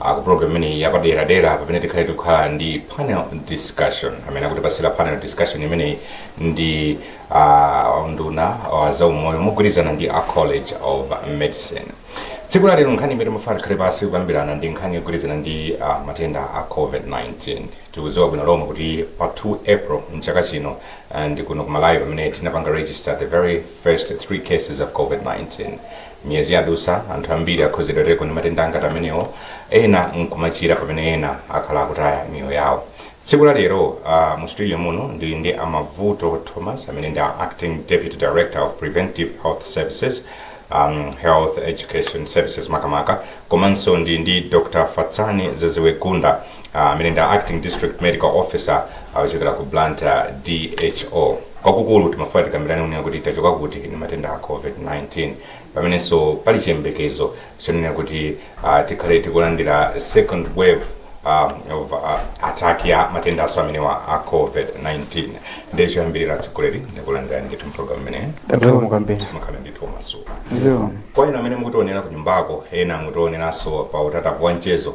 Ah, ku program imeneyi yapaderadera pamene tikhale tikukhala ndi panel discussion amene akutipasira panel discussion imeneyi ndi ah, unduna wa zaumoyo mogwirizana ndi a college of medicine tsiku la lero nkhani imene mafana tikhale pasi kukambirana ndi nkhani yogwirizana ndi ah, matenda a covid-19 tikudziwa bwino lomwe kuti pa 2 april mchaka chino ah, ndi kuno ku malawi pamene tinapanga register the very first three cases of covid-19 Miyezi yadutsa, anthu ambiri akhudzidwako ndi matenda ngati amenewo, ena nkumachira pamene ena akhala akutaya miyoyo yawo. Tsiku la lero a mu studio muno ndili ndi a Mabvuto Thomas amene ndi a Acting Deputy Director of Preventive Health Services, um, Health Education Services makamaka, komanso ndili ndi Dr. Fatsani Zeziwe Gunda, ah, amene ndi acting district medical officer akuchokera ku blantyre dho kwakukulu timafuna tikambirane kunena kuti tachoka kuti ndi matenda a covid-19 pamenenso pali chiyembekezo chonena kuti ah, tikhale tikulandira second wave ah, of ah, attack ya matendanso amenewa a covid-19 ndiye choyambirira atsogoleri ndikulandirani ndithu mpulogalamu imeneyi Zikomo kwambiri. mukhale ndithu omasuka Zikomo. kwa inu amene mukutionera ku nyumbako ena mukutioneranso pa utatapu wa mchezo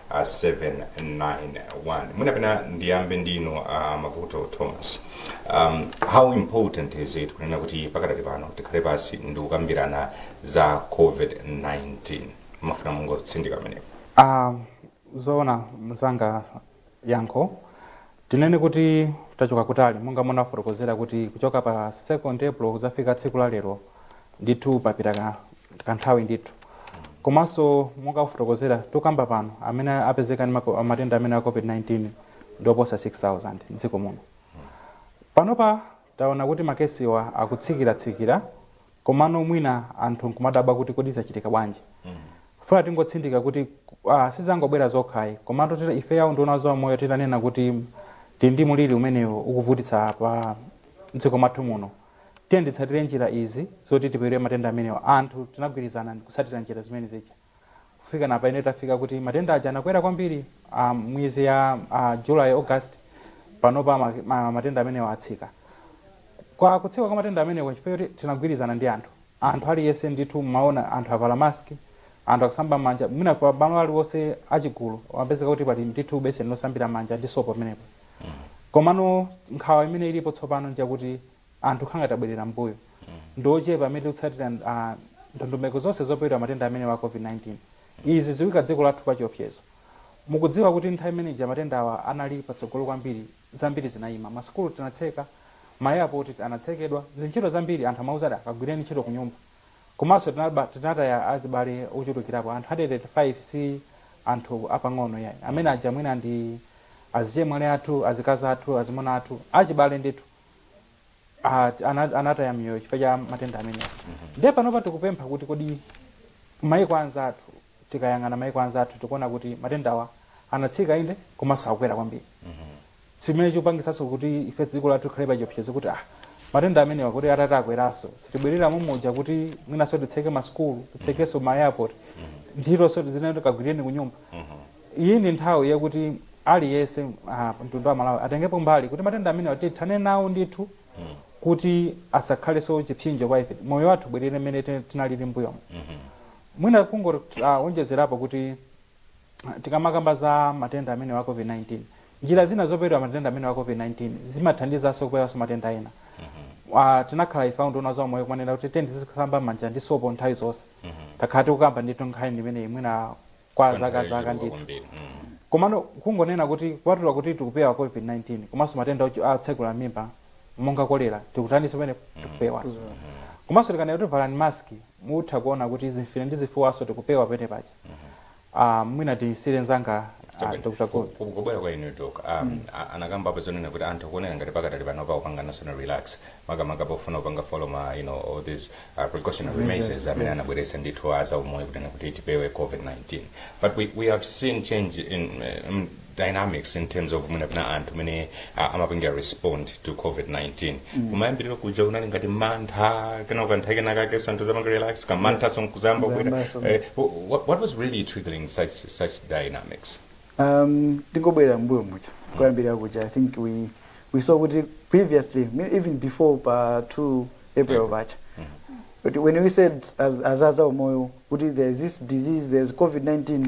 a 791 mwina pena ndiyambe ndinu a mavuto thomas um, how important is it kunena kuti pakadali pano tikhale pasi ndi kukambirana za covid-19 mafuna mungotsindika pamenepo Ah, zoona mzanga yankho tinene kuti tachoka kutali monga munafotokozera kuti kuchoka pa 2 april kuzafika tsiku la lero ndithu papita ka- kanthawi ndithu komanso monga kufotokozera tukamba pano amene apezeka ndi mako- matenda amenewa a covid-19 ndioposa 6000 mdziko muno panopa taona kuti makesiwa akutsikiratsikira komano mwina anthu nkumadabwa kuti kodi zachitika bwanji funa tingotsindika kuti ah, sizangobwera zokhayi komatu tira- ifeyo a unduna wa zaumoyo titanena kuti tili ndi muliri umenewu ukuvutitsa pa mdziko mwathu muno Tiyeni titsatire njira izi zoti tipewere matenda amenewa. Anthu tinagwirizana ndikutsatira njira zimene zija. Kufika napano tafika kuti matenda aja anakwera kwambiri a miyezi ya a July, August. Panopa ma ma matenda amenewa atsika. Kwa kutsika kwa matenda amenewa chifukwa choti tinagwirizana ndi anthu. Anthu aliyense ndithu mmaona anthu avala mask, anthu akusamba mmanja. Mwina pamalo aliwonse achigulu pamapezeka kuti pali ndithu beseni losambira mmanja ndi sopo pamenepo. Komano nkhawa imene ilipo tsopano njakuti anthu kukhala ngati abwerera m'mbuyo. Ndi ochepa amene tikutsatira ndondomeko zonse zopewera matenda amenewa a Covid-19. Izi zikuika dziko lathu pachiopsezo. Mukudziwa kuti nthawi imene ija matendawa anali patsogolo kwambiri, zambiri zinaima. Masukulu tinatseka, ma airport anatsekedwa, zintchito zambiri anthu amauzidwa kagwireni ntchito kunyumba. Komanso tinaba, tinataya azibale ochulukirapo. Anthu 185 si anthu apang'ono iyayi. Amene aja mwina ndi azichemwali athu, azikazi athu, azimuna athu, achibale ndithu. A, ti- ana, anataya miyoyo chifukwa cha matenda amenewa. Ndiye panopa tikupempha kuti kodi kumayiko anzathu, tikayang'ana mayiko anzathu tikuona kuti matendawa anatsika inde komanso akukwera kwambiri. Chimene chikupangitsanso kuti ife dziko lathu likhale pa chiopsezo kuti ah, matenda amenewa kuti atati akwerenso sitibwerera momuja kuti mwinanso titseke masukulu titsekenso ma airport ntchitonso tizinena kagwireni kunyumba iyi ndi nthawi yakuti aliyense ah, mtundu wa malawi atengepo mbali kuti matenda amenewa tithane nawo ndithu kuti asakhalenso chipsinjo kwa ife moyo wathu ubwerere mmene tin- tinalili mbuyomo mwina kungowonjezerapo kuti Tikamakamba za matenda amenewa a COVID-19, njira zina zopewera matenda amenewa a COVID-19 zimathandizanso kupewanso matenda ena. A tinakhala ife a unduna wa zaumoyo kumanena kuti tiyeni tizisamba m'manja ndi sopo nthawi zonse. Takhala tikukamba ndithu nkhani imeneyi mwina kwa Kwa zaka nthawi zaka yochuluka ndithu. kwambiri. Mm. Komano kungonena kuti kupatula kuti tikupewa COVID-19 komanso matenda ochu- otsekula m'mimba monga kolera tikutaninso pamenepo tikupewanso. Komanso tikanena kuti valani mask mutha kuona kuti zimfine ndi zifuwanso tikupewa pene paja. Ah, mwina tisiyire nzanga ah, Dr. Gold. kubwera kwa inu dok um, a- anakamba apa zonena kuti anthu akuoneka ngati pakadali pano akupanganso relax makamaka pofuna kupanga follow ma you know all these uh, precautionary Measures, measures amene yes. anabweretsa ndithu a zaumoyo kunena kuti tipewe covid-19 but we, we have seen change in uh, mm, dynamics in terms of mwina pena anthu mene uh, amapangira respond to covid-19 mm. kumayambiriro kuja kunali ngati mantha kena nkutha kenakanso anthu nkudzapanga relax kamanthanso nkudzayamba kubwera Zayambanso. eh, wh- what, what was really triggering such, such dynamics um tingobwerera mbuyo muja koyambirira kuja i think we we saw kuti previously me- even before pa 2 april paja but when we said as as a zaumoyo kuti there is this disease there is covid-19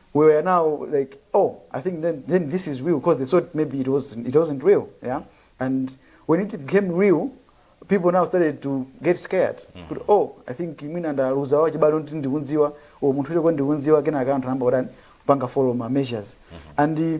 we were now like oh i think then, then this is real because they thought maybe it wasn't, it wasn't real yeah and when it became real people now started to get scared kuti oh i think mwina ndaluza wache bado ndi ndikunziwa o munthu ucho kwa ndikunziwa kenaka anthu anamba kutani panga follow ma measures and uh,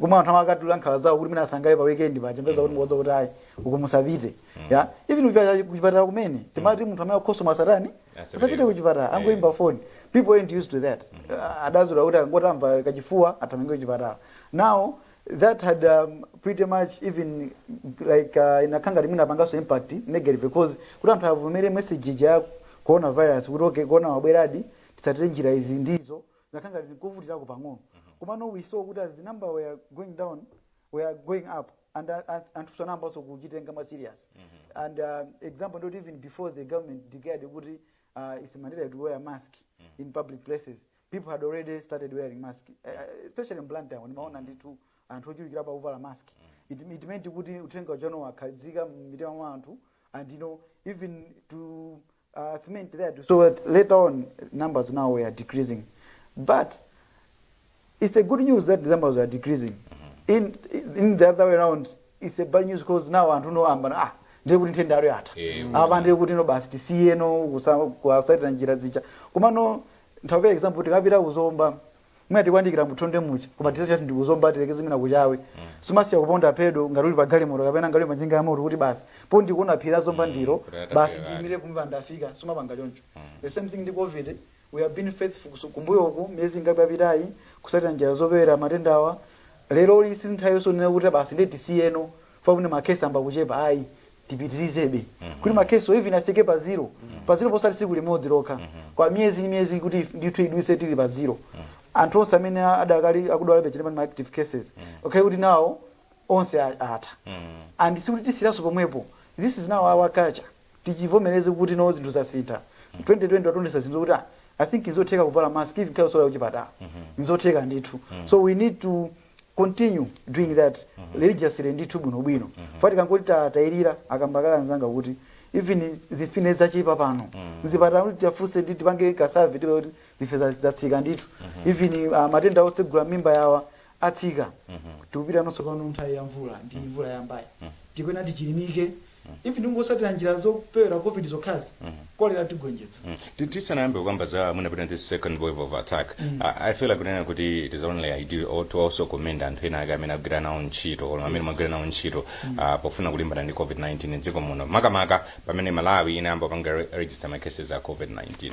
kumwe anthu amakatula nkhawa zawo kuti mwina asangalale pa weekend paja mupeza kuti mukuwauza kuti ayi uko musapite ya even kuchipatala- kuchipatala kumene timati munthu amene akukhosomola asatani Asapite. asapite kuchipatala angoimba phone people ain't used to that Ah, adazolowera kuti akangomva kachifuwa athamange kuchipatala now that had um, pretty much even like uh, inakhala ngati inapanganso impact negative because kuti anthu avomere message ya coronavirus kuti okay corona wabweradi titsatire njira izi ndizo zinakhala ngati zikuvutirako pang'ono komano we saw kuti as the number were going down were going up and uh, uh, anthu anayambanso kuchitenga more serious and uh, example ndi yoti even before the government declared kuti uh, it's mandatory to wear mask in public places people had already started wearing mask uh, uh, especially in blantyre ndimaona ndithu anthu ochulukirapo akuvala mask it, it meant kuti uthenga uja tsopano wakhazika mmitima mwa anthu and you know even to cement that too so that later on numbers now were decreasing but it's a good news that the numbers were decreasing in, in the other way around it's a bad news because now anthu now amba ah ndiye kuti nthenda ija yatha Eh, apa ndiye kuti no basi tisiye no kusa- kusatira njira zija komano ndipereke example tikapita ku Zomba mwina tikuyandikira mu Thondwe muja koma ticheza ndi ku Zomba tilekeze mwina ku Chawe sumasiya kuponda pedo ngati uli pa galimoto kapena ngati uli pa njinga ya moto kuti basi poti ndikuona phiri la zomba ilo kuti basi ndiyimire pompa ndafika sumapanga choncho the same thing ndi covid we have been faithful kusu- kumbuyo uku miyezi ingapo yapitayi kusatira njira zopewera matendawa lero lino si nthawi yonena kuti basi ndiye tisiyeno chifukwa choti makhesi amba kuchepa ayi tipitirizebe kuti makesiwo even afike pa zero pa zero posati tsiku limodzi lokha kwa miyezi ndi miyezi kuti ndithu ituluke tili pa zero anthu onse amene adakali akudwalabe timati ma active cases okay kuti nawo onse a- atha and sikuti tisiranso pomwepo this is now our culture tichivomereze kuti no zinthu zasintha 2020 wationetsa zinthu kuti ah, i think nzotheka kuvala mask even kaya suli kuchipatala nzotheka ndithu so we need to continue doing that mm -hmm. religiously ndithu bwino bwino mm -hmm. chifukwa tikangoti tatayirira akamba kale anzanga kuti even zimfine zachepa pano mm -hmm. mzipatala kuti titafunse ndi tipange kasavi tipeza kuti zimfine zatsika ndithu mm -hmm. even uh, matenda otsegula mmimba awa atsika mm -hmm. tikupita nonso pano nthawi ya mvula ndi mm -hmm. mvula yambayi mm -hmm. tikuyenera tichilimike ife tikungosatira njira zopewera covid zokhazi kolera tigonjetsa Ti- tisanayambe kukamba za mwina pena this second wave of attack I- i feel like kunena kuti it is only ideal or to also commend anthu ena ake amene agwira nawo ntchito or amene mwagwira nawo ntchito ah, pofuna kulimbana ndi covid-19 mdziko muno makamaka pamene malawi inayamba kupanga re- register ma cases a covid-19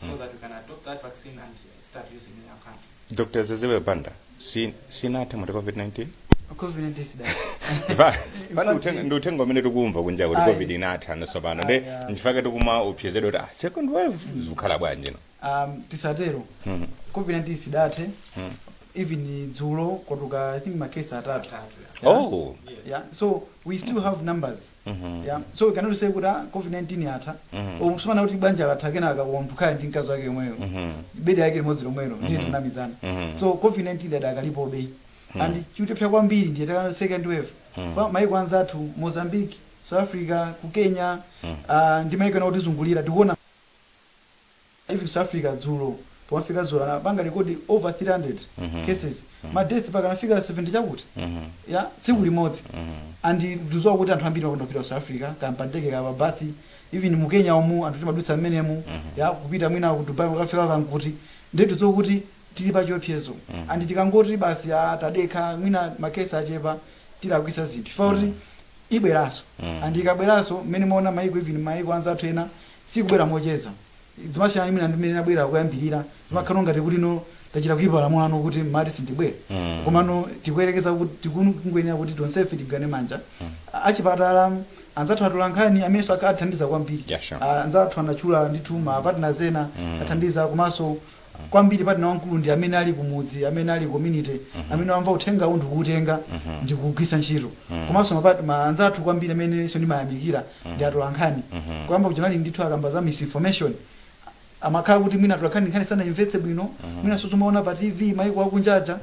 so Mm. that we can adopt that vaccine and start using in our country. dr zezebe banda si- sinathe mwati covid-19 COVID-19 sida. Ifa- fana uthenga- ndi uthenga umene tikumva kunja kuti Ayi. covid inatha nosopano nde Ayi, ayi. nchifake tikuma opsezedwa kuti ah, second wave zikukhala bwanji no Um, tisatero. Mhm. COVID-19 sidathe. Mhm. Even dzulo kwatuluka I think makesi atatu. Atatu, Yeah. oh Yeah. So we still have numbers yeah so we cannot say kuti ah, covid 19 yatha umo sumanena kuti banja latha kenaka munthu akukhala ndi mkazi wake yomweyo bedi yake limodzi lomwelo ndiye tikunamizana so covid 19 idakalipobe and chikutiopsa kwambiri ndiye timati second wave Fa- maiko anzathu mozambique south africa ku kenya ah, ndi maiko ena otizungulira tikuona even south africa dzulo pomafika dzulo anapanga record over 300 cases ma death mpaka anafika 70 chakuti yeah tsiku limodzi and tidziwa kuti anthu ambiri amakonda kupita ku south africa kaya pandege kaya pabasi even mu kenya umu anthu timadutsa mmenemu tikupita mwina ku dubai kukafika kaya nkuti ndiye tidziwa kuti tili pa chiopsezo and tikangoti basi ah, tadekha mwina makesi achepa tilakwisa zinthu chifukwa kuti ibweranso and ikabweranso mmene mwaona maiko even maiko anzathu ena sikubwera mocheza zimasiyana ndi mwina ndimene nabwera kuyambirira zimakhala ngati kuti no tachita kuika lamulo ano kuti mumati sindibwera Mm. komano tikuyerekeza kuti tikungoyenera kuti tonsefe tigwirane manja A- achipatala anzathu atolankhani amenenso akha- athandiza kwambiri Yeah, sure. Ah, anzathu anatchula ndithu ma partners ena Mm. athandiza komanso kwambiri partner wamkulu ndi amene ali kumudzi amene ali community amene wamva uthengawu ndikuutenga ndikuugwitsa ntchito komanso mapart- ma anzathu kwambiri amenenso ndimayamikira ndi atolankhani kuyamba kuja kunali ndithu akamba za misinformation amakhala kuti mwina atolankhani nkhani sanaimvetse bwino mwina nso timaona pa tv maiko akunjaja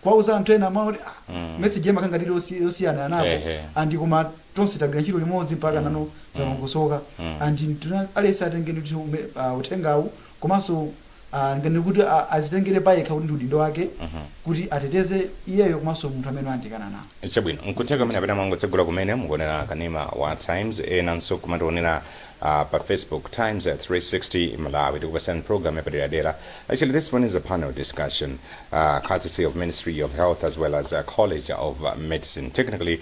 kwauza anthu ena amaona kuti ah, message yema kanga lili yosi- yosiyana napo Ehe. andi koma tonse tagwira ntchito limodzi mpaka nano zamangosoka andi tuna- aliyense atenge ndithu ume- ah, uthengawu komanso ah, ndinganene kuti ah, azitengere payekha kuti ndi udindo wake kuti ateteze iyeyo komanso munthu amene wayandikana naye chabwino nkutheka kumene kapena mwangotsegula kumene mukuonera kanema wa times enanso mumationera uh, pa facebook times at 360 malawi tikupatsani program yapaderadera actually this one is a panel discussion uh, courtesy of ministry of health as well as uh, college of uh, medicine technically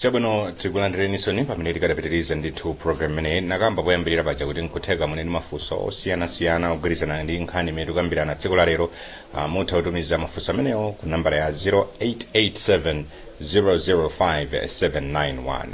chabwino tikulandireninsoni pamene tikadapitiriza ndithu program imeneyi nakamba poyambirira paja kuti nkutheka muli ndi mafunso osiyanasiyana ogwirizana ndi nkhani imene tikambirana tsiku la lero Ah, mutha kutumiza mafunso amenewo ku nambala ya 0887 005791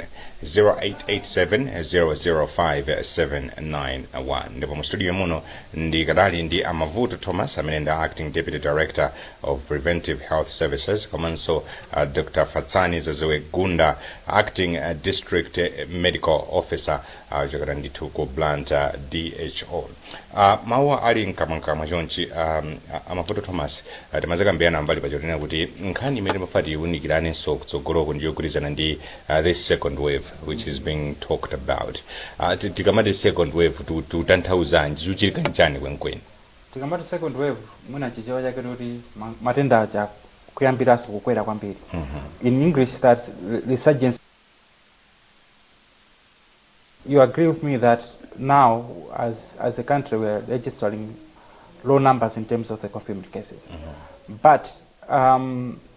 0887005791 ndipo mu studio muno ndikadali ndi a mavuto thomas amene ndi a acting deputy director of Preventive Health Services komanso uh, Dr. Fatsani Zazewe Gunda acting uh, district uh, medical officer uh, kuchokera ndithu ku Blantyre DHO uh, mawu ali mkamwamkamwa chonchi um, a- a Mavuto Thomas uh, timadzakambirana kumbali paja zonena kuti nkhani imene timafuna tiwunikiranenso kutsogoloko ndi yogwirizana ndi uh, this second wave which is being talked about uh, ti- tikamati second wave tu- tutanthauza zanji chikuchitika nchani kwenikweni Tikamati second wave mwina chichewa chake tikuti ma- matenda aja kuyambiranso kukwera kwambiri in english that re- resurgence you agree with me that now as, as a country we are registering low numbers in terms of the confirmed cases but um,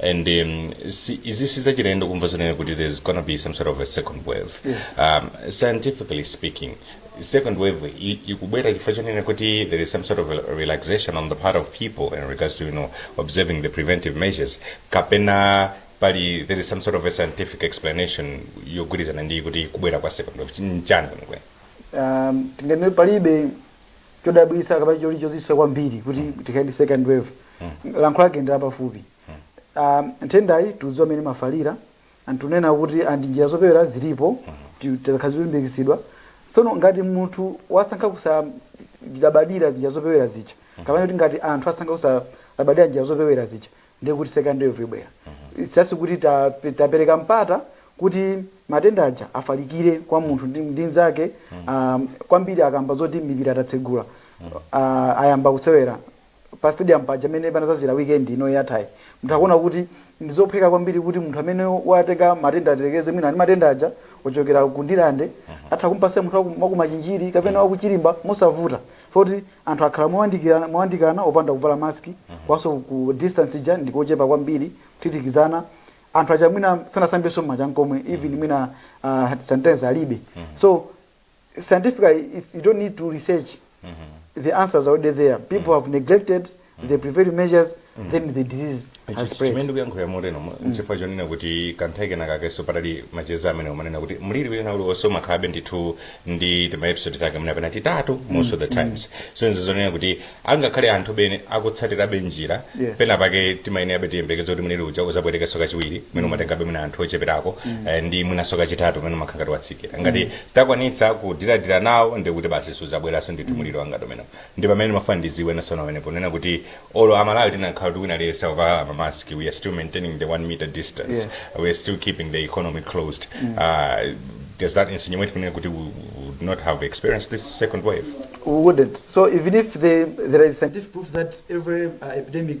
and um, si- izi sizachilendo kumva zonena kuti there's gonna be some sort of a second wave Yes. um, scientifically speaking second wave i- ikubwera chifukwa chonena kuti there is some sort of a relaxation on the part of people in regards to you know observing the preventive measures kapena pali there is some sort of a scientific explanation yogwirizana ndi kuti kubwera kwa second wave Chi- nchani kwenikweni um, tinganene palibe chodabwitsa kapena choli chozizwitsa kwambiri kuti tikhale ndi second wave yankho lake ndi lapafupi Ah, nthendayi tikudziwa mmene imafalira anthu kunena kuti andi njira zopewera zilipo ti- zakhala zikulimbikitsidwa tsono ngati munthu wasankha kusalabadira njira zopewera zija kapena kuti ngati anthu asankha kusalabadira njira zopewera zija ndiye kuti second wave ibwera It's just kuti ta- tapereka mpata kuti matenda aja afalikire kwa munthu ndi, ndi nzake um, kwambiri akamba zoti mipira tatsegula uh, ayamba kusewera pa stadium paja amene panazazira weekend ino yathayi munthu akuona kuti ndizophweka kwambiri kuti munthu amene watenga matenda atiyerekeze mwina ali ndi matenda aja ochokera ku Ndirande atha kumpasa munthu waku- wakumachinjiri kapena wakuChirimba mosavuta Foti anthu akhala mowandikirana, mowandikana opanda kuvala mask komanso ku distance ija ndi kochepa kwambiri kuthithikizana. Anthu aja mwina sanasambenso m'manja nkomwe even mwina ah, sanitizer alibe. So scientifically it's, you don't need to research the answers are already there people have neglected the preventive measures then the disease has spread chimene ndikuyankhulira moteromo nchifukwa chonena kuti kanthawi kena kakenso panali macheza amene umanena kuti mliri wina uliwonse umakhalabe ndithu ndi timaepisode take mwina kapena titatu most of the times so izi zonena kuti angakhale anthu bene akutsatirabe njira Yes. pena pake timayenerabe tiyembekeza kuti mliri uja uzabwerekenso kachiwiri mwina umatengabe mwina anthu ocheperako eh, ndi mwinanso kachitatu mwina umakhala ngati watsikira ngati takwanitsa kudila-dila nawo ndikuti basi suzabweranso ndithu mliri wangati umenewo Nde pamene ndimafuna ndiziwe nanenso pamenepo nonena kuti olo amalawi tinakakhala kuti wina aliyese akuvala ma mask we are still maintaining the 1 meter distance Yes. we are still keeping the economy closed uh, does that insinuate kunena kuti we would not have experienced this second wave we wouldn't. So even if the, there is scientific proof that every uh, epidemic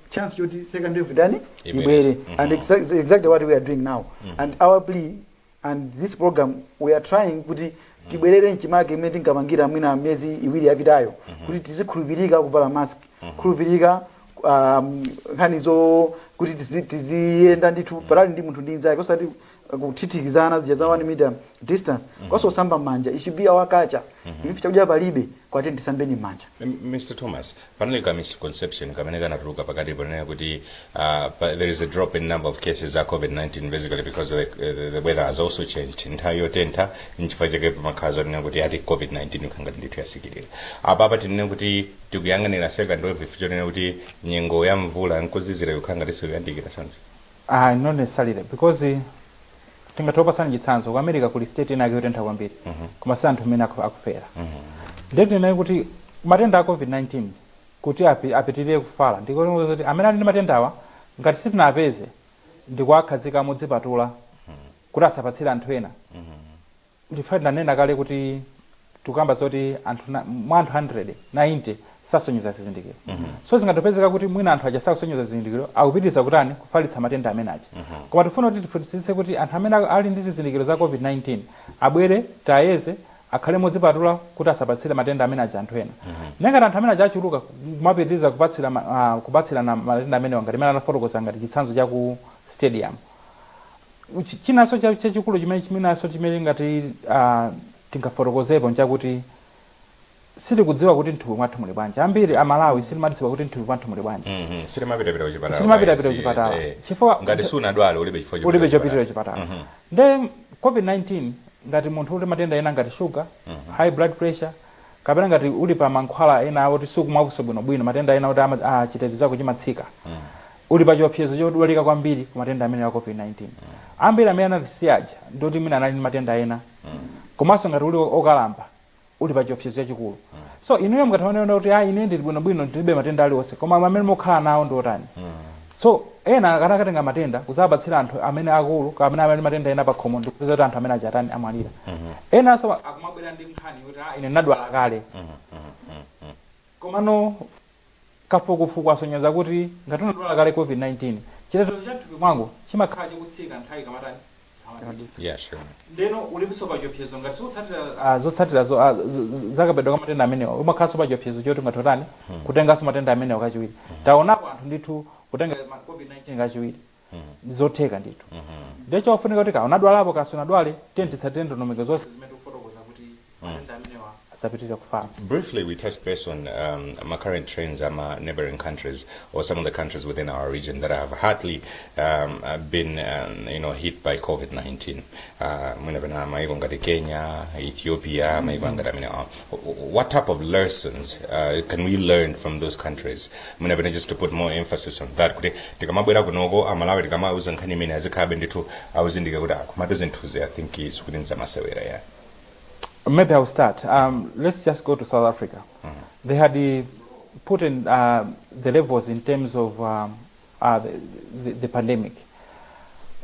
chance choti second wave itani Ibwere. ibwere Mhm. and exa- exactly what we are doing now and our plea and this program we are trying kuti tibwerere mchimake mmene tinkapangira mwina miyezi iwiri yapitayo kuti tizikhulupirika kuvala mask khulupirika um, nkhani zo kuti tizi- tiziyenda ndithu patali ndi munthu ndi nzake osati kuthithikizana zija za 1 meter distance komanso kusamba mmanja it should be our culture even if chakudya palibe koma tiyeni tisambeni mmanja M- Mr. Thomas, panali ka misconception kamene kanatuluka pakati ponena kuti uh, pa- there is a drop in number of cases za COVID-19 basically because the, the, the weather has also changed. Nthawi yotentha nchifukwa chake pamakhala zonenedwa kuti ati COVID-19 ikukhala ngati ndithu yasikirira. Apa apa tinene kuti tikuyang'anira second wave chonena kuti nyengo ya mvula nkuzizira ikukhala ngatinso yayandikira choncho. Ayi not necessarily because tingathe kupatsani chitsanzo ku America kuli state ina yake yotentha kwambiri koma si anthu mmene aku- akufera ndiye tinene kuti matenda a covid-19 kuti api- apitirire kufala ndiko kuti amene ali ndi matendawa ngati sitinawapeze ndikuwakhazika modzipatula kuti asapatsire anthu ena Ndifa tinanena kale kuti tikukamba zoti anthu na- mwa anthu 100 90 sasonyeza zizindikiro so zingatopezeka kuti mwina anthu aja sakusonyeza zizindikiro akupitiriza kutani kufalitsa matenda amene aja koma tifuna kuti tifunitsitse kuti anthu amene ali ndi zizindikiro za covid-19 abwere tiwayeze akhale modzipatula kuti asapatsire matenda amene aja anthu ena nde ngati anthu amene aja achuluka kumapitiriza kupatsira ma- ah, kupatsirana matenda amenewa ngati amene anafotokoza ngati chitsanzo cha ku stadium Chi- chinanso cha- chachikulu chimene chimenanso chimene tingati ah, tingafotokozepo nchakuti sitikudziwa kuti mthupi mwathu muli bwanji ambiri amalawi sitimadziwa kuti mthupi mwathu muli bwanji Mhm, sitimapitapita kuchipatala Sitimapitapita kwa izi, kuchipatala. eh. Chifukwa- ngati sunadwale ulibe chifukwa chopita ulibe kuchipatala. chopitira chipatala Mhm. nde covid-19 ngati munthu uli matenda ena ngati sugar high blood pressure kapena ngati uli pa mankhwala ena oti sukumwanso bwinobwino matenda ena oti ama- ah, chitetezo chako chimatsika uli pa chiopsezo chodwalika kwambiri ku matenda amenewa a COVID-19. Ambiri amene anatisiya aja ndi oti mwina anali ndi matenda ena. Komanso ngati uli okalamba, uli pa chiopsezo chachikulu. So, inuyo mungathe kumanena kuti, ayi, ine ndili bwinobwino, ndilibe matenda aliwonse. Koma amene mukukhala nawo ndi otani? So, ena akakatenga matenda kudzawapatsira anthu amene akulu kaya amene ali ndi matenda ena pakhomo ndi kupeza kuti anthu amene aja atani, amwalira. Enanso akumabwera ndi nkhani yoti, ah, ine ndinadwala kale. Komano Kafukufuku wasonyeza kuti ngati unadwala kale COVID-19, chitetezo cha mthupi mwako chimakhala chikutsika nthawi ikamatani? Ikamadutsa. Yeah, sure. Ndeno ulinso pa chiopsezo ngati sukutsatira ah, zotsatira zo- ah, z- z- za kapewedwe ka matenda amenewa, umakhalanso pa chiopsezo choti ungathe kutani? Kutenganso matenda amenewa kachiwiri. Taonapo anthu ndithu kutenga ma- COVID-19 kachiwiri. ndi zotheka ndithu ndiye chofunika kuti kaya unadwalapo kaya sunadwale tiye titsatire ndondomeko zonse zimene tikufotokoza kuti matenda amenewa asapitirire kufala Briefly, we touched base on um, ma current trends in ma neighboring countries or some of the countries within our region that have hardly um, uh, been um, you know, hit by COVID-19. Uh, mwina pena maiko ngati Kenya, Ethiopia, maiko ngati amenewa. What type of lessons uh, can we learn from those countries? Mwina pene just to put more emphasis on that kuti tikamabwera kunoko amalawi tikamauza nkhani imene azikhabe ndithu auzindike kuti akumatu zinthuzi i think is kuti nzamasewera ya Maybe I'll start. Um, let's just go to South Africa. They had uh, put in uh, the levels in terms of um, uh, the, the, the pandemic,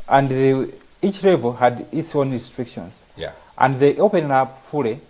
and they, each level had its own restrictions. yeah And they opened up fully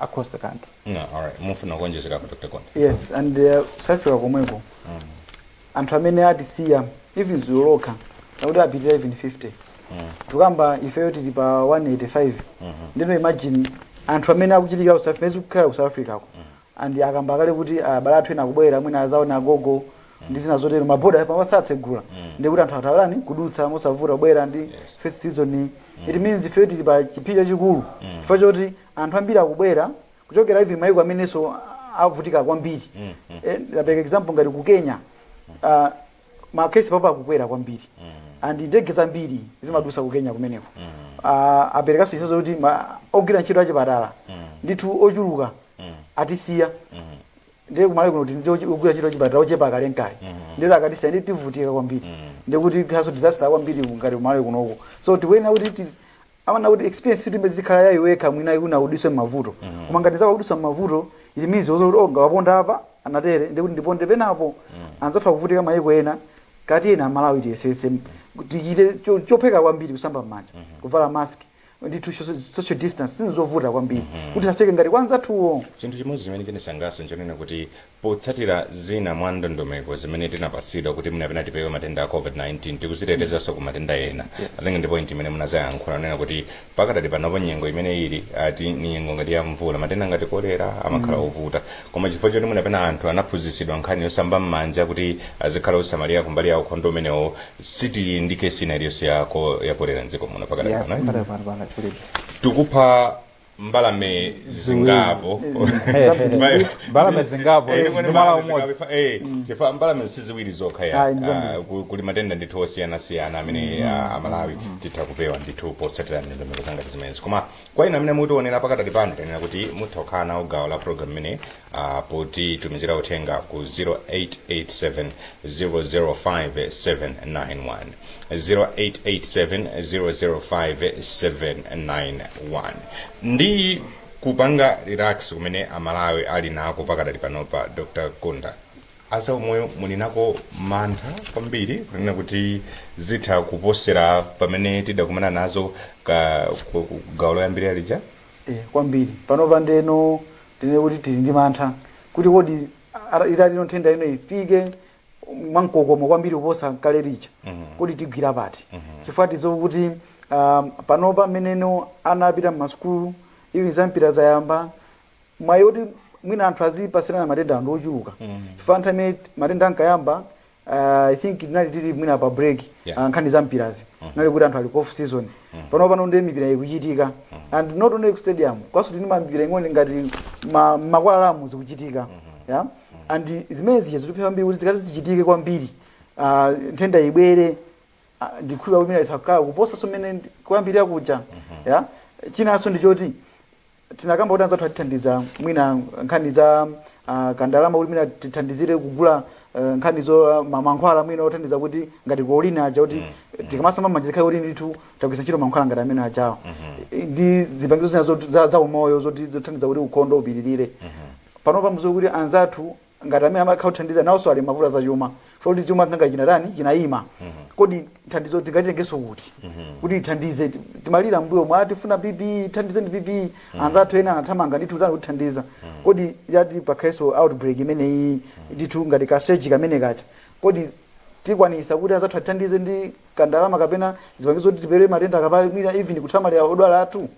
akhoza kanthu Yeah, all right. Mufuna kuonjezera apa Dr. Gondwe. yes and uh, safika komweko anthu amene atisiya even zulo lokha akuti apitira even 50 tukamba ifeyo tili pa 185 ndeno imagine anthu amene akuchitikira ku south africa zikukhala ku south africa ko and akamba akale kuti abale athu ena akubwera mwina adzaona agogo ndi zina zotero maboda pano atsegula ndi kuti anthu atha kutani kudutsa mosavuta kubwera ndi festive season it means ifeyo tili pa chiopsezo chachikulu chifukwa choti anthu ambiri akubwera kuchokera even maiko amenenso avutika kwambiri Eh, ndapereka example ngati ku kenya ah, ma case pompano akukwera kwambiri and ndege zambiri zimadusa ku kenya kumeneko Ah, aperekanso chitsanzo kuti ma- ogwira ntchito achipatala ndithu ochuluka atisiya ndiye kumalawi kuno tili ndi ogwira ntchito achipatala ochepa kalekale ndiye akatisiya ndi tivutika kwambiri ndiye kuti ikhalanso disaster kwambiri ngati kumalawi kunoko so tikuyenera kuti ti- amana kuti experience siti imene zikhala yayi wekha mwina iwe unawuzidwa mmavuto koma ngati wauzidwa mmavuto it means zoti oh nga waponda apa anatere ndiye kuti ndiponde penapo anzathu akuvutika mayiko ena kati ena amalawi tiyesese tichite cho- chotheka kwambiri kusamba mmanja kuvala mask ndithu social- social distance sizovuta kwambiri kuti zisafike ngati kwanzathuwo chinthu chimodzi chimene chinisangalatsa nchonena kuti Potsatira zina mwa ndondomeko zimene tinapatsidwa kuti mwina pena tipewe matenda a COVID-19 tikuzitetezanso ku matenda ena. I think ndi point imene munazayankhula kunena kuti pakadali panopo nyengo imene ili apa ndi nyengo ngati ya mvula matenda ngati kolera amakhala ovuta. Koma chifukwa choti mwina pena anthu anaphunzitsidwa nkhani yosamba m'manja kuti azikhala osamalira kumbali ya ukhondo umenewo sitili ndi kesi ina iliyonse ya ko- ya kolera mdziko muno pakadali Yeah, pano. eh? pakadali pano pano kulibe. tikupha mbalame zingapo Mbalame- mbalame zingapo Eh, kwene ndi mwala mbalame umodzi zingapo, eh, chifukwa mbalame si ziwiri zokha ya Ayi, ndi zambiri. ah, ku- kuli matenda ndithu osiyanasiyana amene ah, amalawi titha kupewa ndithu potsatira ndondomeko zangati zimenezi koma kwa inu amene mukutionera pakadali pano tanena kuti mutha kukhala nawo gawo la program imene uh, potitumizira uthenga ku 0887005791 0887005791 ndi kupanga relax kumene amalawi ali nako pakadali panopa dr kunda azaumoyo muli nawo mantha kwambiri kunena kuti zitha kuposera pamene tidakumana nazo ka ku- ku- gawo loyambirira lija Eya, kwambiri. Panopa ndeno tinene kuti tili ndi mantha kuti kodi ara- itati nthenda ino ifike mwamkokomo kwambiri kuposa kale lija kodi tigwira pati chifukwa tidziwa kuti um, panopa mmenemo ana apita mmasukulu even zampira zayamba mwayi oti mwina anthu azipatsirana matenda ndi ochuluka chifukwa nthawi imene matenda ankayamba uh, i think tinali tili mwina pa break Yeah. uh, nkhani za mpirazi inali kuti anthu ali ku off season pano pano ndi mipira ikuchitika and not only ku stadium komanso timi- mipira ing'ono ngati m'ma- m'makwalalamu zikuchitika yeah? and zimene zija zitha kwambiri kuti zikati zichitike kwambiri uh, nthenda ibwere ah, ndikhulupirira kuti mwina itakhala kuposa mmene kuyambirira kuja yeah? chinanso ndi choti tinakamba kuti anzathu atithandiza mwina nkhani za ah, kandalama kuti mwina tithandizire kugula eh, nkhani zo ah, ma- mankhwala mwina othandiza kuti ngati kolini aja kuti tikamasamba m'manja zikhale kuti ndithu tagwiritsa ntchito mankhwala ngati amene ajawo Eh, ndi zipangizo zina zot- za, za umoyo zoti zothandiza kuti ukhondo upitirire panopa mudziwe kuti anzathu ngati amene amakhala kutithandiza nawonso ali mavuto azachuma poti chuma chakhala chinatani chinayima kodi nthandizo tingatitengenso kuti kuti ithandize ti- timalira mbuyo mwa tifuna PPE ithandize ndi PPE anzathu ena anathamanga ndithu tani kutithandiza kodi yati pakhalenso outbreak imeneyi ndithu ngati ka surge kamene kacha kodi tikwanisa kuti anzathu atithandize ndi kandalama kapena zipangizo kuti tipewe matenda kapena mwina even kusamalira odwala athu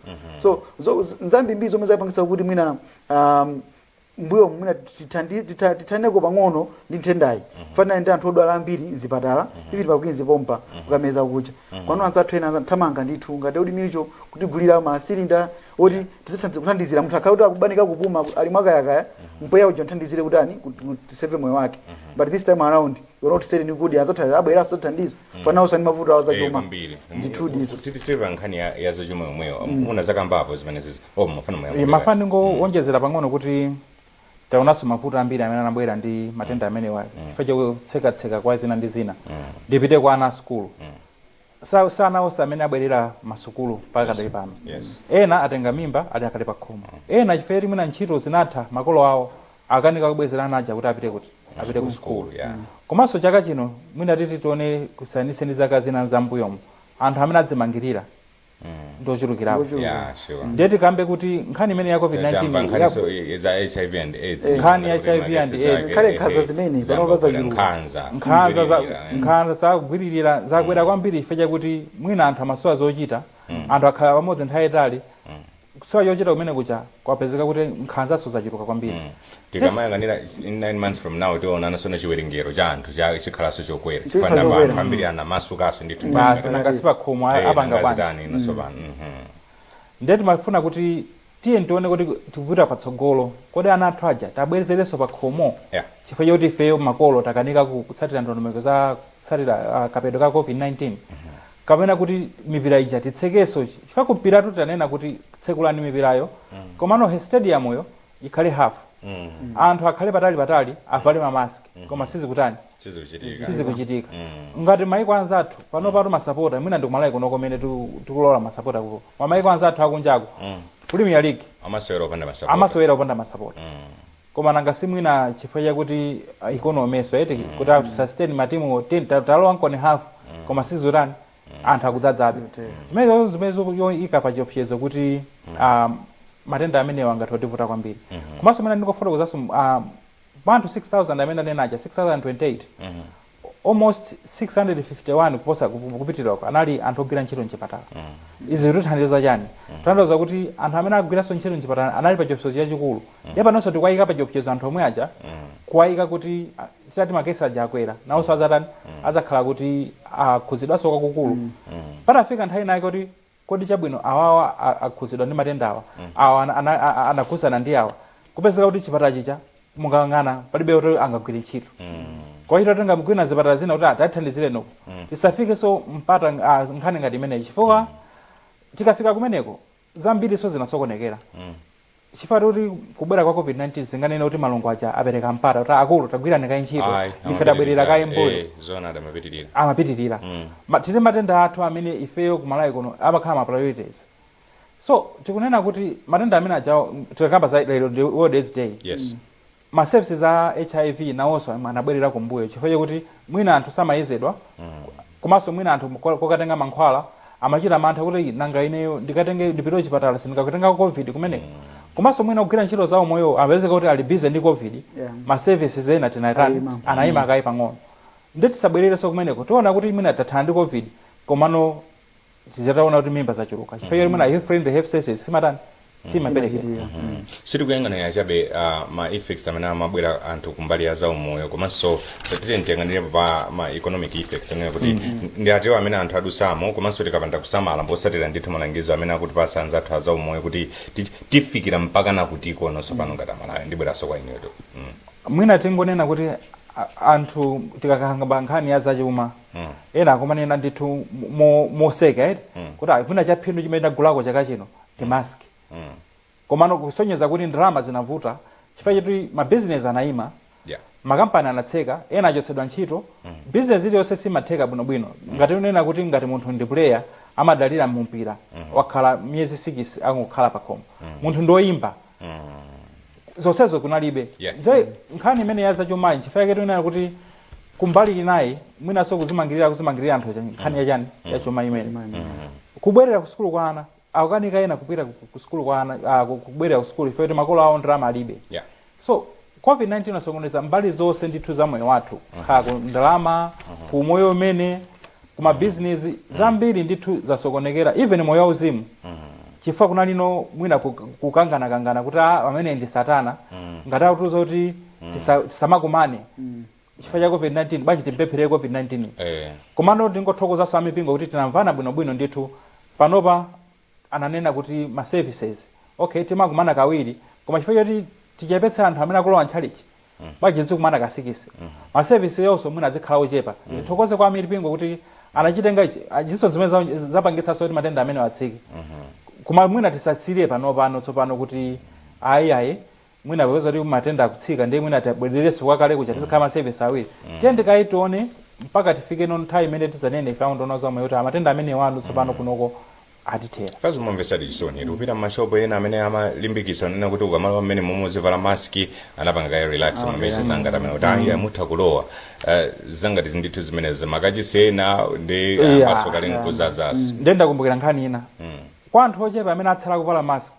so zo- z- nzambiri zomwe zapangisa kuti mwina um, mmbuyomu mwina tithandi- titha- tithaneko pang'ono ndi nthendayi panali ndi anthu odwala ambiri mzipatala even pa queens pompa ukapeza kuti kwanu anzathu ena anza- thamanga ndithu ngati odi milcho kutigulira masilinda oti tizithandiza kuthandizira munthu akhala kuti akubanika kupuma ku- ali mwakayakaya mpweya uja nthandizire kutani kuti kuti tiseve moyo wake but this time around you're not saying kuti anzathu abweranso tithandiza chifukwa nawonso ali mavuto awo Eh, zachuma kwambiri ndithu ndithu titi pa nkhani ya- ya zachuma yomweyo muna zakambapo zimenezizi mmafuna ndingowonjezera pang'ono kuti taonanso mavuto ambiri amene anabwera ndi matenda amenewa chifukwa chakutsekatseka kwa zina ndi zina ndipite kwa ana a sukulu Sa- si ana onse amene abwerera masukulu mpaka kadali pano Yes. ena atenga mimba ali akali pa khomo ena chifukwa choti mwina ntchito zinatha makolo awo akanika kubwezera ana aja kuti apite kuti apite ku sukulu Cool, yeah. komanso chaka chino mwina tati tione kusiyanitse ndi zaka zina zambuyomo anthu amene adzimangirira ndochulukirapo Yeah, sure. ndiye tikambe kuti nkhani imene ya covid 19 nkhani ya- so i- za HIV and AIDS. Nkhani ya Kuti HIV and madesi AIDS. zake, Kale eh, nkhanza eh, zimene, zamba panopa kubwera zachuluka. nkhanza. nkhanza za- Kugwiririra, eh. nkhanza zakugwiririra zakwera kwambiri chifukwa chakuti mwina anthu amasowa zochita anthu akhala pamodzi nthawi yaitali kusowa chochita kumene kuja kwapezeka kuti nkhanzanso zachuluka kwambiri mm. tikamayang'anira in 9 months from now tiona ana so chiwerengero cha anthu chikhalanso chokwera chifukwa namba anthu ambiri anamasukanso ndithu basi nanga sipakhomo eh, apanga bwanji inonso mm. pano mhm. ndiye timafuna kuti tiye tione kuti tikupita patsogolo kodi ana athu aja tiwabwezerenso pakhomo yeah. chifukwa choti ifeyo makolo takanika kutsatira ndondomeko za kutsatira uh, kapewedwe ka covid-19 mm -hmm. kapena kuti mipira ija titsekenso chifukwa ku mpiratu tanena kuti tsekulani mipirayo komano stadium yo ikhale half anthu akhale patali patali avale ma mask koma sizikutani sizikuchitika sizikuchitika ngati maiko anzathu panopatu masapota mwina ndikumalawi kuno komene tiku- tikulola masapota kuko mamaiko anzathu akunjako premier league amasewera opanda masapota amasewera opanda masapota Koma nanga si mwina chifukwa chakuti economy-so eti kuti a sustain ma team wo tati talowani koma half koma sizikutani anthu akudzadzabe zimenezo zimene zikuika pa chiopsezo kuti a matenda amenewa angathe kutivuta kwambiri komanso mwina ndingofotokozanso a pa anthu 6000 amene ananena aja 6028 almost 651 kuposa kupitirira uko anali anthu ogwira ntchito mchipatala izi zikutanthauza chani tanthauza kuti anthu amene agwiranso ntchito mchipatala anali pa chiopsezo chachikulu ndiye panonso tikuwayika pa chiopsezo anthu omwe aja kuwayika kuti ah, titati makesi aja akwera nawonso adzatani adzakhala kuti akhudzidwanso kwakukulu patafika nthawi inayake kuti kodi chabwino awawa a akhuzidwa ndi matendawa awa ana ana a a anakhuzana ndi awa kupezeka kuti chipatala chija mungang'ana palibe woti angagwire ntchito kuchita kutenga mwina zipatala zina kuti atathandizireni uku tisafikenso mpata ng- ah, nkhani ngati imeneyi chifukwa tikafika kumeneko zambiri so zinasokonekera chifukwa choti kubwera kwa covid 19 sikunanene kuti malungu aja apereka mpata kuti akulu tagwirani kaye ntchito Ayi, ife tabwerera amapitiriza. kaye mbuyo Eh, zoona adamapitirira amapitirira Mm. Ma- tili matenda athu amene ifeyo ku Malawi kuno amakhala ma priorities so tikunena kuti matenda amene ajawo tikakamba za lero ndi world aids day yes Ma services a hiv nawonso anabwelera kumbuyo chifukwa chakuti mwina anthu samayezedwa komanso mwina anthu kokatenga mankhwala amachita mantha kuti nanga ineyo ndikatenge, ndipite kuchipatala sindikakatengako Covid kumeneko? Komanso mwina ogwira ntchito za umoyowo amapezeka kuti ali busy ndi Covid, ma services ena tinatani, anayima kaye pang'ono. Nde tisabwelerenso kumeneko, tidzaona kuti mwina tathana ndi Covid komano. tizaona kuti mimba zachuluka chifukwa choti mwina health friendly health services simatani simapereke Simachitika. Mm. sitikuyang'anira chabe uh, ma effects amene amabwera anthu kumbali ya zaumoyo komanso tatiye tiyang'anire pa ma economic effects amene kuti mm. ndi atiwo amene anthu adusamo komanso tikapanda kusamala potsatira ndithu malangizo amene akutipatsa anzathu a zaumoyo kuti ti- tifikira mpaka nakuti kunonso pano ngati aMalawi ndibweranso kwa inuyo mm. mwina tingonena kuti a- anthu tikakamba pa nkhani ya zachuma mm. ena akumanena ndithu moseka mo, mo eti mm. kuti ah, mwina chaphindu chimene tagulako chaka chino ndi mm. mask mm. komano kusonyeza kuti ndalama zinavuta chifukwa choti mabizinesi anayima yeah. makampani anatseka ena achotsedwa ntchito mm. bizinesi iliyonse simatheka bwinobwino mm. ngati unena kuti ngati munthu ndi puleya amadalira mpira mm -hmm. wakhala miyezi sikisi akungokhala pakhomo mm -hmm. munthu ndoyimba mm -hmm. zonsezo kunalibe yeah. nkhani imene ya zachumayi nchifukwa yake tikunena kuti kumbali inayi mwinanso kuzimangirira kuzimangirira anthu aja nkhani ya chani ya chuma imene kubwerera ku sukulu kwa ana akukanika ena kupita ku- ku sukulu kwa ana ah, ku- kubwerera ku sukulu chifukwa choti makolo awo ndalama alibe Yeah. so covid-19 inasokoneza mbali zonse ndithu za moyo wathu kaya ku ndalama ku umoyo umene kuma business zambiri ndithu zasokonekera even moyo wauzimu chifukwa kunalinso mwina kuk kukangana kangana kuti aa ameneyi ndi satana ngati akutiuza kuti tisa tisamakumane chifukwa cha covid 19 bwanji timpempherere covid 19 yi Eh. komano tingothokozanso amipingo kuti tinamvana bwino bwino ndithu panopa ananena kuti ma services okay timakumana kawiri koma chifukwa choti tichepetse anthu amene akulowa ntchalitchi bwanji tizikumana ka sikisi ma service onso mwina adzikhala ochepa tithokoze kwa amipingo kuti anachitenga ichi achinso zimene za- zapangitsanso kuti matenda amenewa atsike koma mwina tisatsirire panopano tsopano kuti ayi ayi mwina popeza kuti matenda akutsika ndiye mwina tabwererenso kwakale kuja tizikhala masevesi awiri tiyeni tikaye tione mpaka tifikeno nthawi imene tizanene ife a unduna za moyo kuti matenda amenewano tsopano kunoko atithera koma zimamvesa chisoni eti kupita mashopo ena amene amalimbikitsa nena kuti ukamalowa mmenemu muzivala maski anapanga kaye relax Ah, mwemwe relax. zangati amene kuti ayi mutha kulowa Eh, zangati ndithu zimenezo matchalitchi ena ndi Yeah, amasukakale yeah. nkudzadzanso ndiye ndakumbukira nkhani ina kwa anthu ochepa amene atsala kuvala mask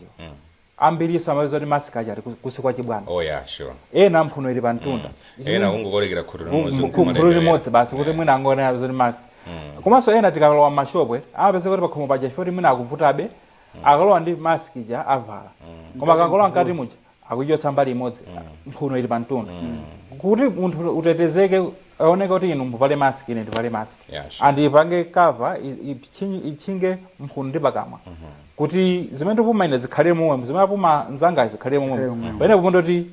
Ambirinso umapeza kuti mask aja ali ku- kunsi kwa chibwano. oh yeah sure Ena mphuno ili pa mtunda. Izi ena mwina- kungokolekera khutu mu- limodzi mu- khutu nkumalendewera. limodzi basi kuti mwina angoona zoti mask. Komanso ena tikalowa m'mashopu eti, umapeza kuti pakhomo paja chifukwa kuti mwina akuvutabe, akalowa ndi mask ija avala. Koma akangolowa mkati muja, akuichotsa mbali imodzi, mphuno ili pa mtunda. Kuti munthu utetezeke Iyeneka kuti inu muvale mask ine ndivale mask Yeah, sure. and ipange cover i- ipchi- itchinge mphuno ndi pakamwa kuti zimene ndipuma ine zikhale momwemo zimene apuma nzangayo zikhale momwemo pamenepo mpomwe kuti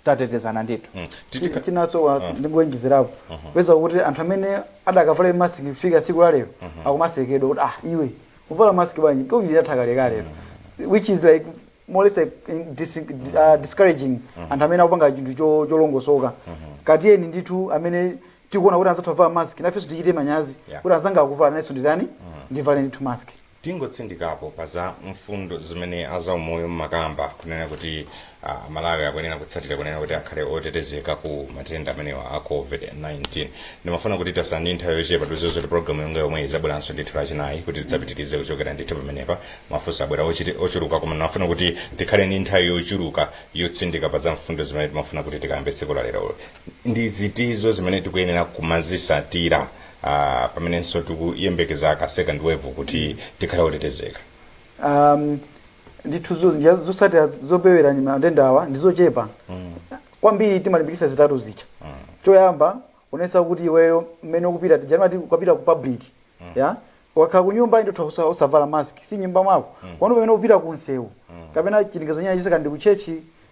tatetezana ndithu Mm. Titika- chinanso wa- ndingowonjezerapo upeza kuti anthu amene adakavalabe mask kufika tsiku la lero akumasekedwa kuti ah iwe uvala mask bwanji covid yatha kalekale which is like more or less like, in- dis, uh, discouraging anthu amene akupanga chinthu cho- cholongosoka koma tiyeni ndithu amene tikuona kuti anzathu avala mask nafenso tichite manyazi Yeah. kuti anzanga akuvala nanenso nditani ndivale ndithu mask tingotsindikapo pa za mfundo zimene azaumoyo mmakamba kunena kuti uh, Amalawi akuyenera kutsatira kunena kuti akhale otetezeka ku matenda amenewa a covid-19 ndimafuna kuti tatsala ndi nthawi yochepa tidziwe kuti programu yonga yomweyi izabweranso ndithu lachinayi kuti tidzapitirize kuchokera ndithu pamenepa Mafunso abwera ochiti- ochuluka koma ndimafuna kuti tikhale ndi nthawi yochuluka yotsindika pa za mfundo zimene timafuna kuti tikambe tsiku la lero. Ndi ziti zimene tikuyenera kumazisatira ah, pamenenso tikuyembekeza ka second wave kuti tikhale otetezeka. um, ndithu zo- njira zosatira zopewera matenda awa ndi zochepa kwambiri timalimbikitsa zitatu zija choyamba uonetsetse kuti iweyo mmene ukupita tija nati ukapita ku public ya Ukakhala kunyumba ndithu osa osavala mask si nyumba mwako komano pamene upita ku nsewu kapena chilinganizo china chilichonse kaya ndi ku church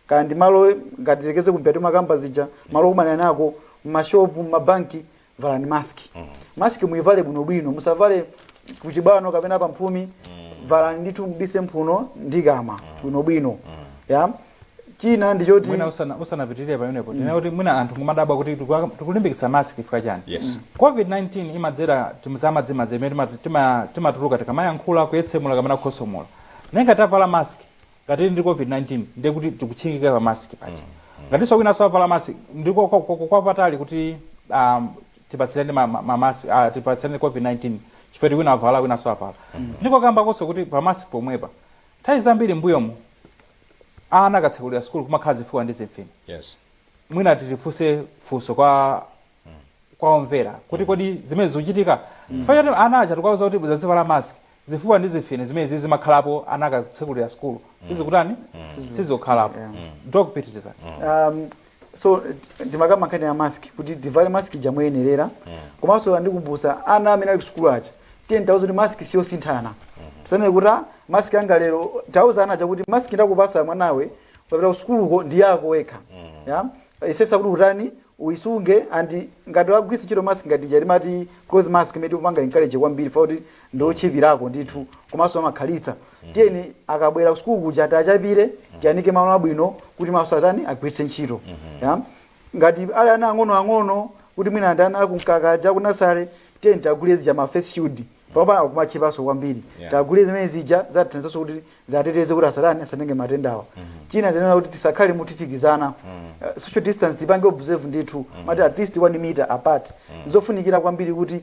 kaya ndi malo ngati tiyerekeze ku mpira timakamba zija malo okumana ena ako mma shop mma bank valani mask. Mask muivale bwino bwino musavale kuchibwano kapena pa mphumi valani ndithu mubise mphuno ndi kukamwa bwino bwino ya. china ndi choti mwina usana- usanapitirire pamenepo ndinena kuti mwina anthu kumadabwa kuti tikuwa- tikulimbikitsa mask chifukwa chani Yes. covid-19 imadzera timadzimadzi imene timatu- tima- timatuluka tikamayankhula kuyetsemula kapena kukhosomola ndiye ngati tavala mask ngati ndi covid-19 ndiye kuti tikutchingika pa mask paja ngatinso wina savala mask ndi kwa- kwa- kwa patali kuti um, tipatsirane ma- ma- ma- mask- ah, tipatsirane covid-19 chifukwa kuti wina avala wina savala ndikukambakonso kuti pa mask pomwepa nthawi zambiri mbuyomu Ana akatsekulira sukulu kumakhala zifuwa ndi zimfine. Yes. Mwina tifunse funso kwa kwa omvera kuti kodi zimenezi zikuchitika? Chifukwa choti ana aja tikuwauza kuti azivala mask, zifuwa ndi zimfine zimenezi zimakhalapo ana akatsekulira sukulu. Sizikutani? Sizikukhalapo. Yeah. Doc, pitirizani. Um, so ndimakamba nkhani ya mask kuti tivale mask ija moyenerera komanso tiwakumbutse ana amene ali kusukulu aja tiyeni tiwauze kuti mask siyosinthana asanene kuti "Ah, mask anga lero tiwauze ana aja kuti mask ndakupasa mwanawe ukapita kusukuluko ndi yako wekha ya uyesetse kuti utani uyisunge and ngati wagwiritsa ntchito mask ngati ija timati cloth mask imene tikupanga encourage kwambiri fa kuti ndi otchipirako ndithu komanso amakhalitsa tiyeni akabwera ku sukulu kuja tiachapire tiyanike malo abwino kuti mawa atani agwiritse ntchito ya ngati ali ana ang'ono ang'ono kuti mwina ndi ana akumkaka aja ku nursery tiyeni tiwagulire zija ma face shield pano akumatchipanso kwambiri Yeah. tiwagulire zimene zija ziwathandizanso kuti ziwateteze kuti asatani asatenge matendawa china tinena kuti tisakhale mothithikizana Eh, social distance tipange observe ndithu amati at least one meter apart nzofunikira kwambiri kuti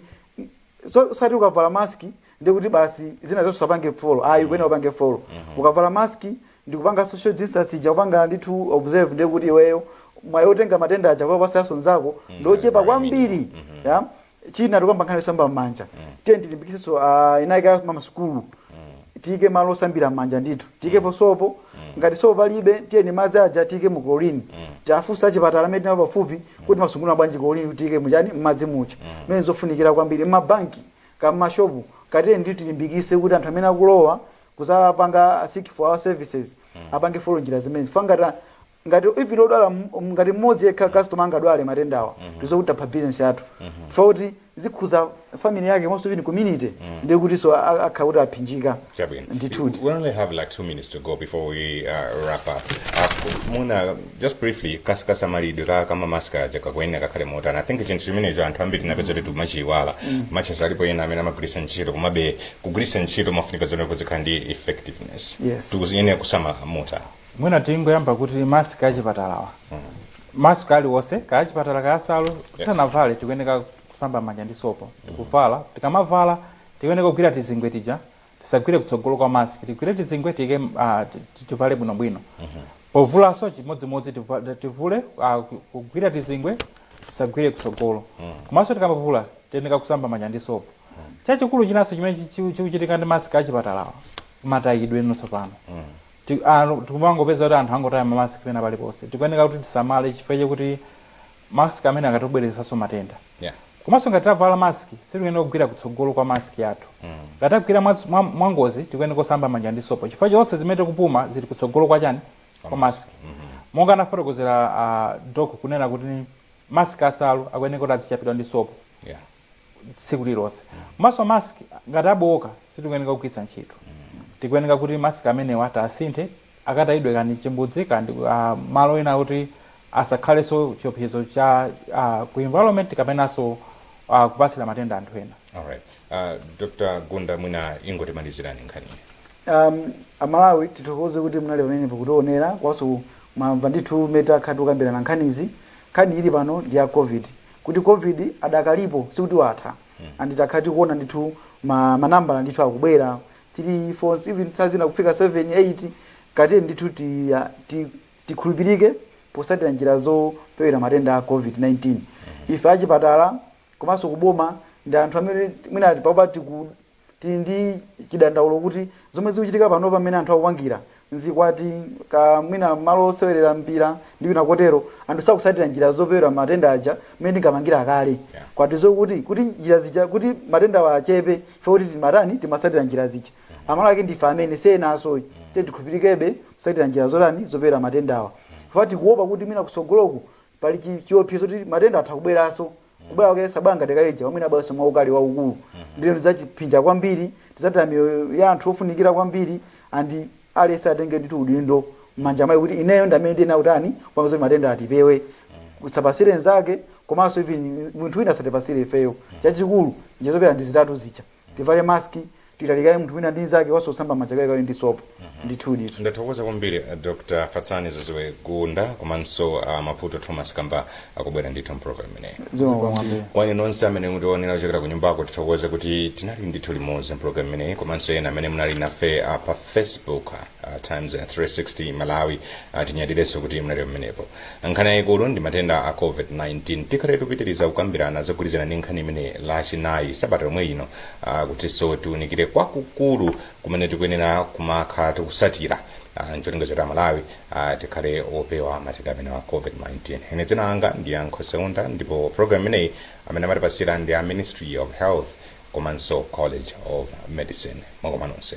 so sikuti ukavala mask ndiye kuti basi zina zonse usapange follow ayi ukuyenera upange follow ukavala mask ndikupanga social distance ija kupanga ndithu observe ndiye kuti iweyo mwayi otenga matenda aja kupatsanso nzako ndiochepa kwambiri ya china tikamba nkhani yosamba m'manja tiyeni tilimbikitsenso ah, tinene kuti m'masukulu tiike malo osambira mmanja ndithu tiikepo sopo ngati sopo palibe tiyeni madzi aja tiike mu chlorine tiwafunse achipatala amene tinao pafupi kuti mumasungunula bwanji chlorine kuti tiike muchani mmadzi muja zimene nzofunikira kwambiri mmabanki kaya mmashopu kaya tiyeni ndithu tilimbikitse kuti anthu amene akulowa kuzapanga seek for our services apange follow njira zimene chifukwa ngati a- ngati even odwala mm, ngati mmodzi yekha customer angadwale matendawa mm -hmm. tidziwe kuti tapha business yathu mm -hmm. chifukwa kuti zikhuza family yake komanso even community mm -hmm. ndiye kutinso akhala kuti apsinjika Chabwino. ndithudi We only have like two minutes to go before we uh, wrap up. Uh, Muna, just briefly, kas- kasamalidwe ka ma mask aja kakuyenera kakhale motani. I think chinthu chimenecho anthu ambiri tinapeza kuti timachiyiwala. As much as alipo ena amene amagwiritsa ntchito komabe kugwiritsa ntchito imafunika izioneka izikhala ndi effectiveness. Yes. Tikuyenera kusamala motani. mwina tingoyamba kuti mask achipatalawa mask aliwonse kaya achipatala kaya asalu tisanavale tikuyeneka kusamba manja ndi sopo ndikuvala tikamavala tikuyeneka kugwira tizingwe tija tisagwire kutsogolo kwa mask tigwire tizingwe tike ah, ti- ti- tivale bwinobwino povulanso chimodzimodzi tiva- tivule ah, ku- kugwira tizingwe tisagwire kutsogolo komanso tikamavula tiyeneka kusamba manja ndi sopo chachikulu chinanso chimene chi- chi- chikuchitika ndi mask achipatalawa matayidwe tsopano Ti, a, tikumangopeza kuti anthu angotaya ma mask pena paliponse. Tikuyeneka kuti tisamale chifukwa chakuti mask amenewa akhoza kubweretsanso matenda. Yeah. Komanso ngati tavala mask sitikuyeneka kugwira kutsogolo kwa mask yathu. Ngati tagwira mwa, mwa, mwa ngozi tikuyeneka kusamba manja ndi sopo chifukwa zonse zimene tikupuma zili kutsogolo kwa chani? Kwa Kwa mask. mask. Monga anafotokozera a doc kunena kuti mask asalu akuyeneka kuti adzichapidwa ndi sopo. Yeah. tsiku lililonse komanso mask ngati abowoka sitikuyeneka kugwiritsa ntchito tikuyeneka kuti mask amenewa tiasinthe akatayidwe kaya ndi mchimbudzi kaya ndi ah, malo ena kuti asakhalenso chiopsezo cha ah, ku environment kapenanso ah, kupatsira matenda anthu ena alright uh, dr gunda mwina ingotimalizirani nkhaniyi um, amalawi tithokoze kuti munali pamenepo kutionera komanso mwamva ndithu mmene takhala tikukambirana nkhanizi nkhani ili pano ndi ya covid kuti Covid adakalipo sikuti watha and takhala tikuona ndithu ma ma nambala ndithu akubwera 3, 4 even nthawi zina kufika 7, 8 ka tiyeni ndithu ti ti tikhulupirike potsatira njira zopewera matenda a Covid 19. Ife achipatala komanso kuboma ndi anthu amene mwina panopa tiku. Tili ndi chidandaulo kuti zomwe zikuchitika panopa mmene anthu akupangira, m'zikwati ka mwina mmalo osewerera mpira ndi kwina kotero, anthu sakutsatira njira zopewera matenda aja mmene tinkapangira kale. Koma tidziwe kuti kuti njira zija kuti matendawa achepe chifukwa kuti timatani timatsatira njira zija. Amalawi ake ndife amene si enanso ayi. Tiye tikhulupirikebe kutsatira njira zotani zopewera matendawa. Chifukwa tikuopa kuti mwina kutsogoloku pali chi, chiopsezo kuti matenda atha kubweranso kubwera kwake sabwera ngati kaija pamene abweranso mwaukali waukulu ndiye zidzatiphinja kwambiri tidzataya miyoyo ya anthu ofunikira kwambiri and aliyense atenge ndithu udindo m'manja mwake kuti ineyo ndi amene ndiyenera kutani kupanga zoti matendawa tipewe tisapatsire nzathu komanso even munthu wina asatipatsire ifeyo chachikulu njira zopewera ndi zitatu zija tivale mask titalikirane munthu wina ndi nzake komanso kusamba manja kawirikawiri ndi sopo ndithudi ndathokoza kwambiri eh, dr fatsani ziziwe gunda komanso uh, mavuto thomas kamba kobwera ndithu mpulogalamu imeneyi zikomo kwambiri kwa inu nonse amene mumatiwonera kuchokera ku nyumbako tithokoze kuti tinali ndithu limodzi mpulogalamu imeneyi komanso ena amene munali nafe uh, pa facebook Uh, times 360 malawi uh, tinyadirenso kuti mwa lero limenepo nkhani yayikulu ndi matenda a covid-19 tikhale tikupitiriza kukambirana zogwirizana ndi nkhani imeneyi lachinayi sabata yomwe ino uh, kutinso tiunikire kwakukulu kumene tikuyenera kumakhala tikutsatira uh, ncholinga choti amalawi uh, tikhale opewa matenda amenewa a covid-19 ine dzina langa ndi yankho seunda ndipo program imeneyi amene amatipatsira ndi a ministry of health komanso college of medicine makamanso